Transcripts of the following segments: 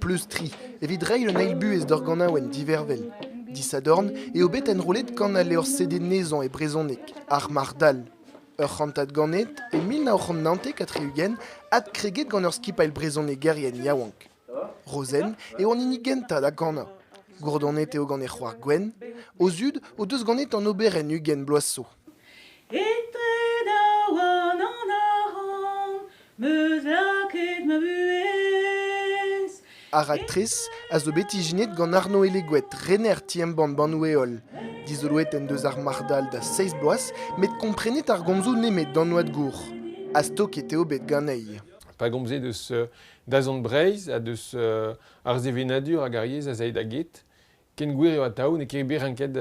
Pleustriñ evit reiñ un eil buhez d'ur ganaouenn divervel. Disadorn eo bet enrollet kan al levr CD Nezañ e brezhoneg, Ar Marc'h-Dall. Ur c'hantad ganet e mil nav c'hant naontek ha tri-ugent adkreget gant ur skipailh brezhonegerien yaouank. Rozenn eo an hini gentañ da ganañ. Gourdonet eo gant he c'hoar Gwenn. O zud o deus ganet an oberenn ugent bloaz zo. Etre daouarn an arc'hant 'meus lakaet ma buhez. Ar raktres a zo bet ijinet gant Arno Eleguet, rener ti-embann Bannoù-Heol. Dizoloet en deus ar marc'h-dall da seizh bloaz, met komprenet ar gomzoù nemet d'an oad gour. Astok eo bet ganezhi. Pa gomzez eus Dazont Breizh ha deus ar sevenadur hag ar yezh az ae da get. Ken gwir eo atav n'eo ket bet renket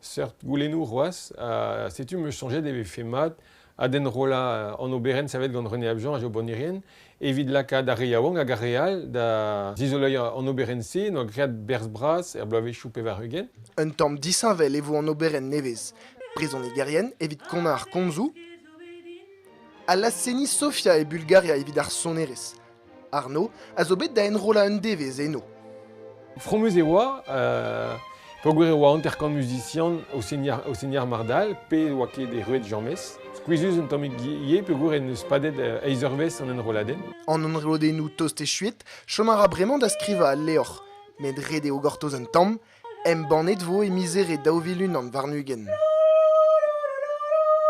seurt goulennoù c'hoazh. Ha setu m'eus soñjet e vefe mat adenrollañ an oberenn savet gant René Abjean ha Jo Bonirien evit lakaat ar re yaouank hag ar re all da zizoleiñ an oberenn-se. N'oa graet berzh bras er bloavezhioù pevar-ugent. Un tamm disheñvel e vo an oberenn nevez, Brezhonegerien evit konañ ar komzoù. Allas seniñ Sofia e Bulgaria evit ar sonerezh. Arno a zo bet da enrollañ un devezh eno. Fromus e oa euh, peogwir e oa hanter-kant muzisian o seniñ ar, o seniñ ar mardal pe e oa ket erruet James. Skuizhus un tammig ivez peogwir en deus padet euh, eizh eurvezh an enrolladenn. An enrolladennoù tost echuet chom a ra bremañ da skrivañ al levr, met ret eo gortoz un tamm. Embannet vo e miz Here daou vil unan warn-ugent.